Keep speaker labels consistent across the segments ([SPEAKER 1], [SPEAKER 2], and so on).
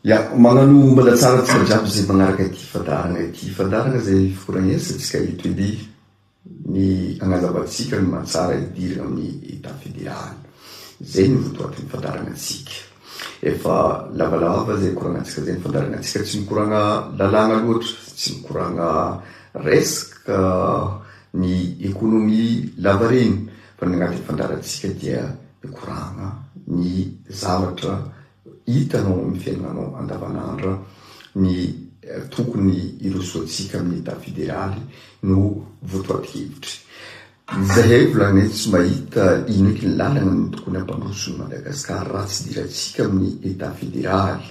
[SPEAKER 1] Ya, magnano ombana tsara antsika jiaby izay magnaraka ity fandaharana ity. Fandaharana izay foragn'eritrantsika eto edy ny agnazavantsika ny mahatsara idiragna amin'ny Etat Fédéral. Izay no votoatin'ny fandaharana antsika. Efa lavalava izay koragnantsika izay ny fandaharana antsika. Tsy mikoragna lalàgna loatra, tsy mikoragna resaka ny économie lavareny fa ny agnatin'ny fandaharantsika dia mikoragna ny zavatra Hitanao ao amin'ny fiainanao andavanandro ny tokony hirosoantsika amin'ny Etat federaly no votoatin-kevitra. Izay hay volana eto tsy mahita ino eky ny lalana no tokony hampandroso ny Madagascar raha tsy hidirantsika amin'ny Etat federaly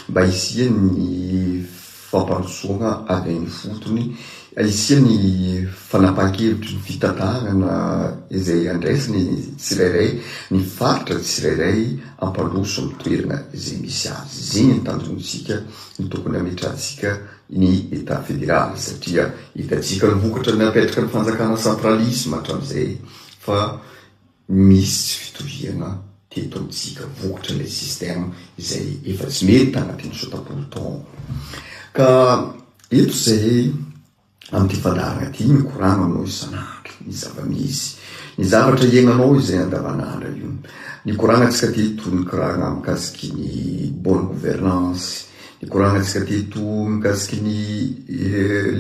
[SPEAKER 1] mba hisian'ny fampandrosoana any an'ifotony isia ny fanapahan-kevitry ny fitantanana izay handraisany ny tsirairay, ny faritra tsirairay hampandroso ny toerana izay misy azy. Izigny ny tanjontsika, ny tokony hametrahantsika ny Etat Federaly satria hitantsika ny vokatra napetraka ny fanjakana centralisme hatramin'izay fa Misy tsy fitoviana teto amintsika, vokotry ilay système izay efa tsy mety tanatin'ny sota-polo taona. Ka eto izahay amin'ity fandaharana ity mikorana aminao isan'andro ny zava-misy, ny zavatra iainanao izay andavanandro io. Nikoranantsika teto nikorana mikasiky ny bonne gouvernance, nikoranantsika teto mikasiky ny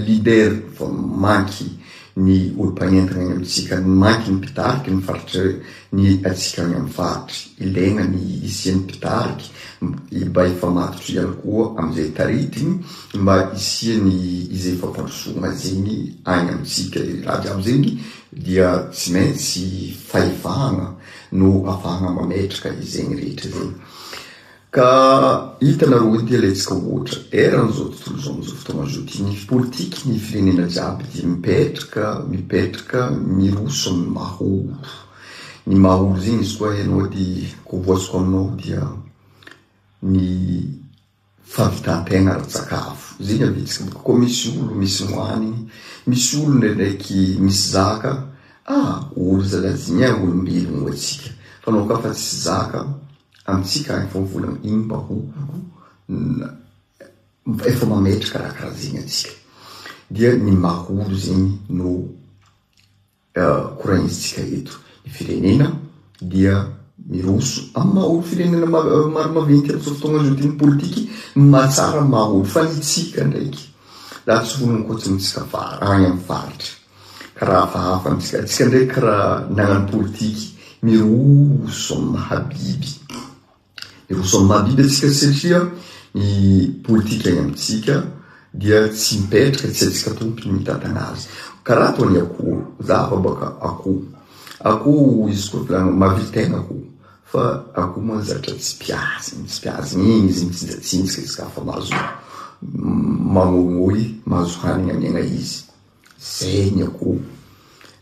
[SPEAKER 1] leader vao mainka. ny olom-panentina any amintsika no mainky ny mpitariky ny faritra ny antsika any amin'ny faritra. Ilaina ny hisian'ny mpitariky mba hifamatotra ihany koa amin'izay taritiny mba hisian'ny izay fampandrosoana izany any amintsika. Raha jiaby izany dia tsy maintsy fahefana no afahana mametraka izegny rehetra izegny. Ka hitanareo hoe ity laitsaka ohatra erany izao tontolo izao amin'izao fotoana izao ity, ny politique ny firenena jiaby dia mipetraka, mipetraka miroso amin'ny mahaolo. Ny mahaolo zegny izy koa ianao dia koboasiko aminao dia ny fahavitan-tegna ara-tsakafo. Zegny avitsika boka koa misy olo misy moany, misy olo ndraindraiky misy zaka, ah olo zalahy zegny ah olombelogno atsika, fa anao ka fa tsisy zaka Amintsika any vao volana iny mba ho efa mametraka raha karaha zegny antsika dia ny mahoro zegny no koragnizintsika eto ny firenena dia miroso amin'ny mahoro firenena maro maventy amin'izao fotoagna zao ty ny politiky mahatsara ny mahoro fa ny tsika ndraiky raha tsy vononkotsintsika vary any amin'ny faritra Raha hafahafa amintsika atsika ndraiky raha nagnano politiky miroso amin'ny mahabiby. Miroso amin'ny mahabiby atsika satria ny politika any amintsika dia tsy mipetraka tsy atsika tompo ny mitantana azy. Karaha toa ny akoho, za afa baka akoho. Akoho izy koa volagny mahavita tena akoho fa akoho moa zatra tsy mpiady, tsy mpiady igny izy mitsinjatsinjaka izy ka fa mahazo mamoimoy, mahazo hanigny amiagna izy. Zay ny akoho.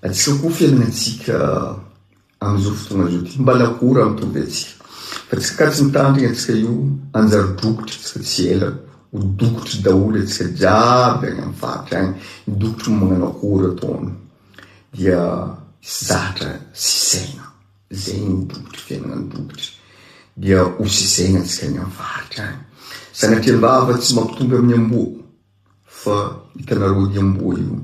[SPEAKER 1] Atsika koa fiainantsika amin'izao fotoana izao ty. Mba lakora mitovy atsika. Fa tsy ka tsy mitandrina atsika io, hanjary dokotry atsika tsy ela. Ho dokotry daholo atsika jiaby any amin'ny faritra any. Ny dokotry moa magnano akora ataony. Dia zatra sy saina. Zay ny dokotry fiainana ny dokotry. Dia ho sy saina atsika any amin'ny faritra any. Sanatria am-bava tsy mampitombo amin'ny amboa. Fa hitanareo ny amboa io,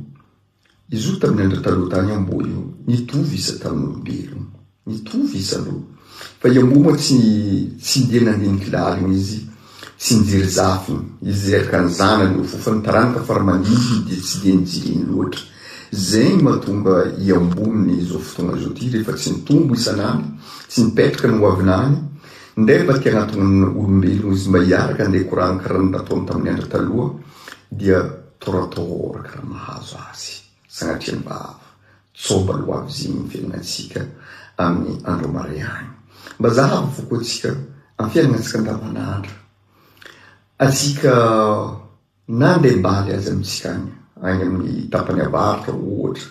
[SPEAKER 1] izy io tamin'ny andro taloha tany io amboa io, nitovy izy tamin'ny olombelona. Nitovy izy aloha. Fa i amboa moa tsy tsy ndeha nandinika lalina izy, tsy nijery zafiny, izy araka ny zanany io, fa ny taranaka fara mandimby dia tsy dia nijery iny loatra. Izay no mahatonga i amboa amin'izao fotoana izao ity rehefa tsy nitombo isan'andro, tsy nipetraka ny hoaviny any, Indray mivadika anatin'ny olombelona izy mba hiaraka handeha korana karaha ny nataony tamin'ny andro taloha dia torotoro karaha mahazo azy sagnatria ny vava tsoba loa avy izigny ny fiaignatsika amin'ny andro marehagny. Mba zahavo foko antsika amin'ny fiaignatsika andavanandro atsika na ndeha mbaly aza amintsika agny, agny amin'ny tapany avaratra ohatra,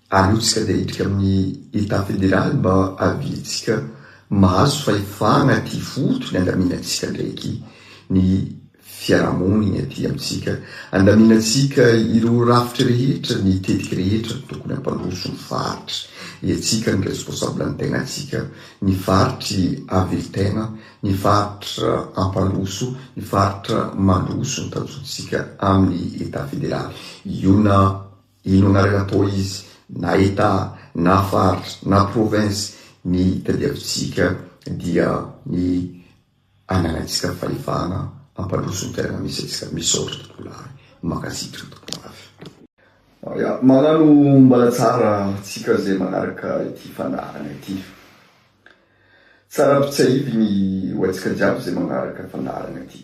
[SPEAKER 1] Arotsaka dia hiditra amin'ny Etat Federal mba haviantsika mahazo fahefana aty voto ny andaminantsika ndraiky ny fiarahamoniny aty amintsika. Andaminantsika ireo rafitra rehetra, ny tetiky rehetra no tokony hampandroso ny faritry. Iantsika no responsable ny tenatsika, ny faritry havelon-tena, ny faritra hampandroso, ny faritra mandroso ny tanjontsika amin'ny Etat Federal. Io na. Inona ary atao izy na Etat na faritra na province ny tadiavintsika dia ny ananantsika fahefana ampandroso ny toerana misy antsika. Misaotra tompolahy. Mankasitra tompondafy. Aya, magnano mbala tsara tsika zay magnaraka ity fandaharana ity. Tsara ampitsiahivy ny ho antsika jiaby zay magnaraka fandaharana ity.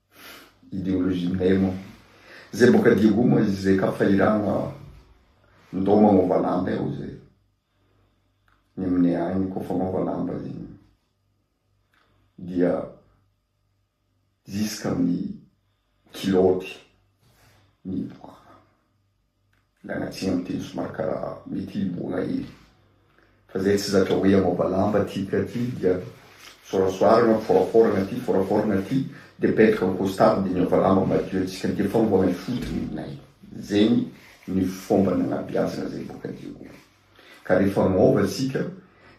[SPEAKER 1] Ideologie Nemo. Zay boka Diego moa izy zay ka fahirano ah. Ndao magnova lamba eo zay. Ny aminay agny koa fagnova lamba igny dia ziska amin'ny kilaoty miboaka. Ilay an'aty miteny somary karaha mety hiboona hely fa zay tsy zatra hoe hamaoba lamba aty ka aty dia sorasoarana, foraforana aty, foraforana aty dia petraka ny costard dia niova lamba madio antsika dia fanovana ny fotony ninay. Zegny ny fomba nagnabeazana zay boka Jehovah. Ka rehefa maova tsika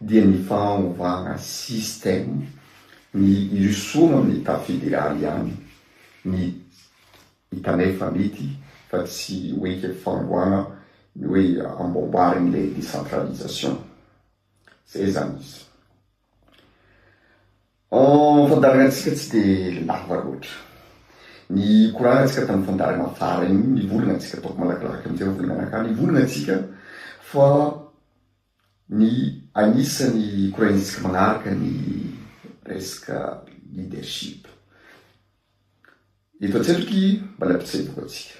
[SPEAKER 1] dia ny fanovana système ny hirosoana amin'ny état fédéral ihany ny Hitanay fa mety fa tsy ho eken'ny fanombohana ny hoe amboamboariny ilay décentralisation. Izay izany izy. Ny fandaharanantsika tsy dia lava loatra. Nikorahantsika tamin'ny fandaharana farany iny, nivolana antsika, ataoko malakilaky amin'izay ho volana anakany, nivolana antsika fa, Ny anisany koraintsika manaraka ny resaka leadership. Eto an-tsetroky mbola mpitseboka antsika.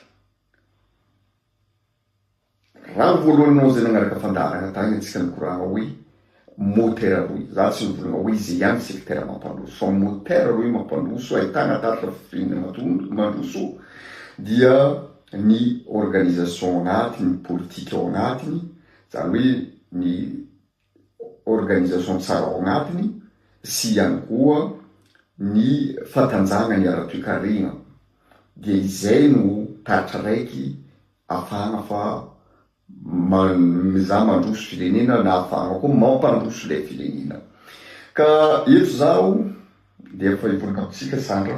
[SPEAKER 1] Raha ny voalohany anao izay nanaraka fandaharana tany antsika nikorana hoe motera roa. Za tsy nivolagna hoe izay ihany ny sekretera mampandroso fa motera roe mampandroso ahitana tatitra fifidianana matondro mandroso dia ny organisation ao anatiny, ny politika ao anatiny Izany hoe ny organisation tsara ao agnatiny sy ihany koa ny fatanjahagany ara-toekarena dia izay no taratra raiky afahagna fa mizaha mandroso firenena na afahagna koa mampandroso ilay firenena. Ka eto zaho dia efa hivonika amintsika Sandra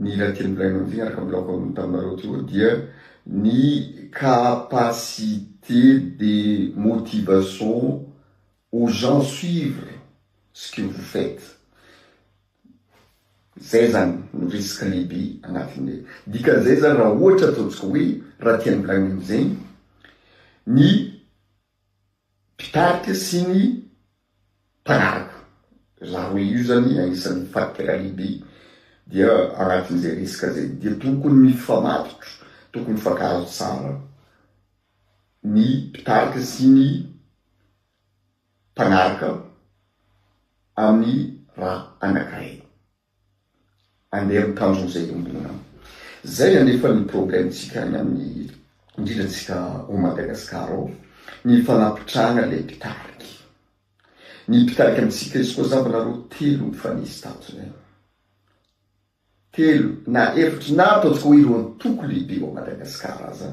[SPEAKER 1] Ny iray teny milaina amin'ity miaraka amin'ny laoko ambony taminareo ity koa dia ny capacité de motivation aux gens suivre ce que vous faites. Izay izany no risque lehibe anatin'ny dikan'izay izany raha ohatra ataontsika hoe raha tian'ny milaina amin'izay ny mpitarika sy ny mpanaraka. Za roe io zany anisan'ny fadikala lehibe dia anatin'izay resaka zay dia tokony mifamatotra, tokony mifankahazo tsara ny mpitarika sy ny mpanaraka amin'ny raha anankiray. Andeha amin'ny tanjona izay iombonana. Izay anefa ny problème tsika any amin'ny indrindra tsika ao Madagascar ao, ny fanapitrahana ilay mpitarika. Ny mpitarika amintsika izy koa zamba nareo telo mifanesy tato izay. Telo na efatra na ataontsika hoe ireo antoko lehibe ao Madagascar aza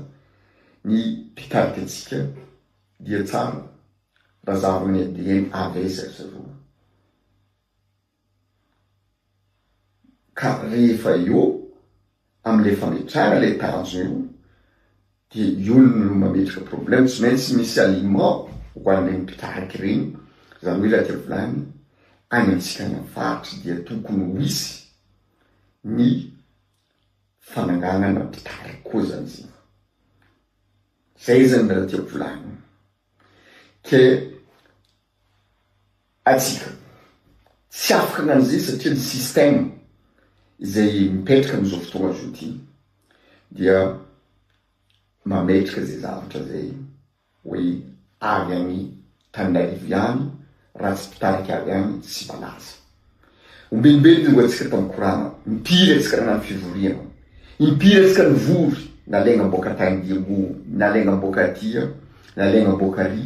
[SPEAKER 1] ny mpitarika antsika dia tsara raha zahavina ny ADN à l'aise ry zareo. Ka rehefa eo amin'ilay fametrahana ilay tanjona io dia eo no mametraka problème, tsy maintsy misy aliment ho an'ireny mpitarika ireny, izany hoe raha diavolana any amintsika any amin'ny faritra dia tokony ho hisy ny fananganana mpitarika koa izany zay, zay zany raha diavolana, ke. Antsika. Tsy afaka ny an'izay satria ny système izay mipetraka amin'izao fotoana izao ity dia mametraka izay zavatra izay hoe avy any Tananarivo ihany raha tsy mpitarika avy any tsy malaza. Ombenibe ny longo antsika tamin'ny korana, impiry antsika nanano fivoriana, impiry antsika nivory, nalainga am-boaka taindiambo, nalainga am-boaka aty, nalainga am-boaka ary.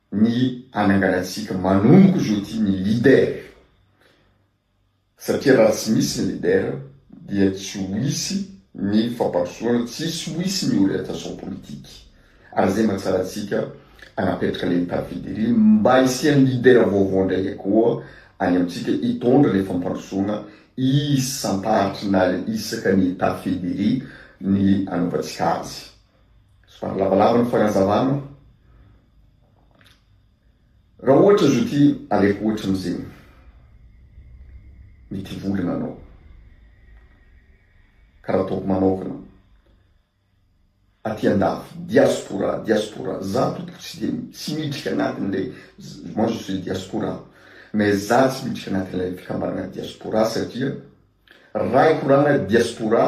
[SPEAKER 1] ny hananganantsika manomboka izao ity ny leader satria raha tsy misy ny leader dia tsy ho hisy ny fampandrosoana, tsisy ho hisy ny orientation politique ary izay mba tsarantsika hanapetraka ilay David iry mba hisian'ny leader vaovao indray koa any amintsika hitondra ilay fampandrosoana isan-tahatr'inal isaky ny Tafid iry ny hanaovantsika azy. Somary lavalava ny fanazavana. Raha ohatra izy ity aleko ohatra amin'izegny. Mety hivolagna anao. Karaha ataoko manaovana aty andafy, diaspora, diaspora. Za tompoko tsy de tsy miditry agnatin'ilay, moi je suis diaspora, mais za tsy miditry agnatin'ilay fikambanagna diaspora satria, Raha ny korana diaspora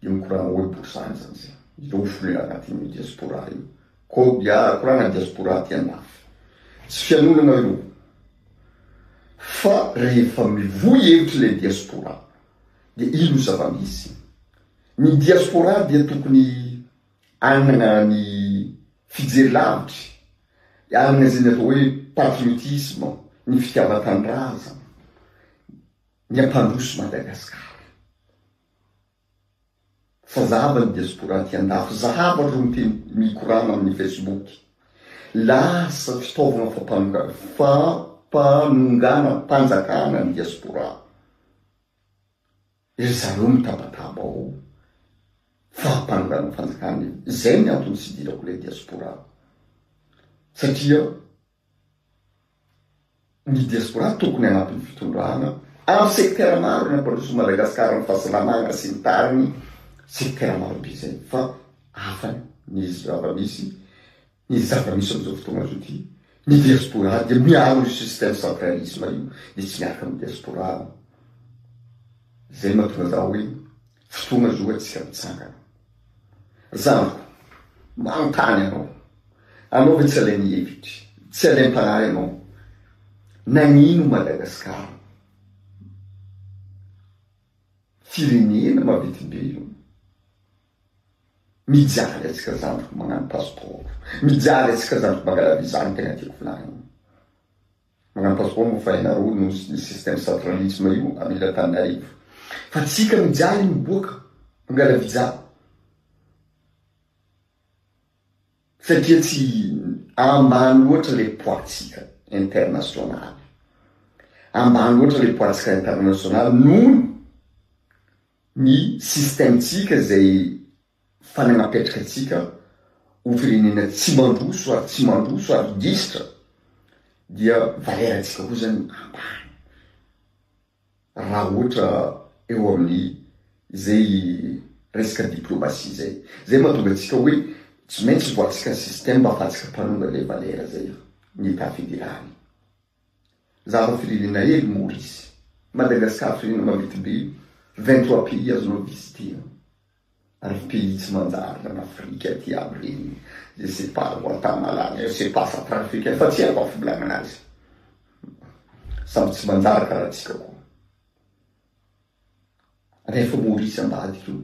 [SPEAKER 1] dia ny korana hoe borisaha izany izay ireo ho folena anatin'io diaspora io. Kodia, korana diaspora aty andafy. Tsy fianonana io fa rehefa mivoy hevitra ilay diaspora dia iny no zava-misy. Ny diaspora dia tokony Hanana ny fijery lavitry, hanana izay ny atao hoe patriotisme, ny fitiavan-tanindrazana, ny hampandroso Madagasikara. Fa zahava ny diaspora aty an-dafy, zahava ireo miteny mikorana amin'ny Facebook. Lasa fitaovana fampanongana, fampanonganam-panjakana ny diaspora. Ry zareo mitabataba ho fahapanonganan'ny fanjakana io, izay ny antony tsy hidirako ilay diaspora satria ny diaspora tokony hanampy ny fitondrana amin'ny secteur maro ny hampandroso an'i Madagasikara ny fahasalamana sy ny tariny secteur marobe izay fa hafa ny zava-misy Ny zava-misy amin'izao fotoana azo ity, ny diaspora dia miaro io système centralisme io dia tsy miarka amin'ny diaspora aho. Izay no mahatonga an'zah hoe fotoana zao antsika mitsangana. Zandriko, manontany anao, anao ve tsy alain'ny hevitry, tsy alaim-panahy ianao? Nagnino Madagascar, firenena mavidim-be io, Mijaly atsika zandriko magnano pasipaoro mijaly atsika zandriko mangala visa no tegna tiako volagnina magnano pasipaoro moa fa ianareo no ny système centralisme io amy ila Tananarivo fa tsika mijaly miboaka mangala visa satria tsy ambany loatra le poids tsika internationaly ambany loatra le poids tsika internationaly noho ny ny système-tsika izay fanagnapetraka antsika ho firenena tsy mandroso ary tsy mandroso ary gisitra dia valera-tsika koa zany ambany raha ohatra eo amin'ny izay resaka diplomasia izay. Izay mahatonga antsika hoe tsy maintsy voatsika ny système afatsika mpanonga ilay valera izay, ny Etat Fédéral. Zaro firenena hely Maurice. Madagascar firenena maventy be, vingt trois pays azonao visiter. Ary pays tsy manjary an Afrique aty aby reny, je sais pas Guatamala, je sais pas central africaine fa tsy haiko afobolana azy. Samy tsy manjary karaha antsika koa. Rehefa Maurice ambadika eo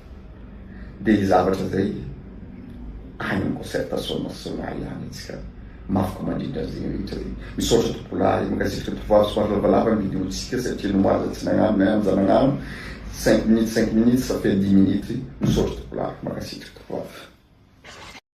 [SPEAKER 1] dia ny zavatra izay any amin'ny concertation nationale ihany antsika mafy ko mandrindra an'izay rehetra izay misaotra tompolahy mankasitraka tovovavy somary lavalava ny vidéo tsika satria nomaza tsy nagnano na ihany za nagnano cinq minutes cinq minutes sa feno dix minutes misaotra tompolahy mankasitraka tovovavy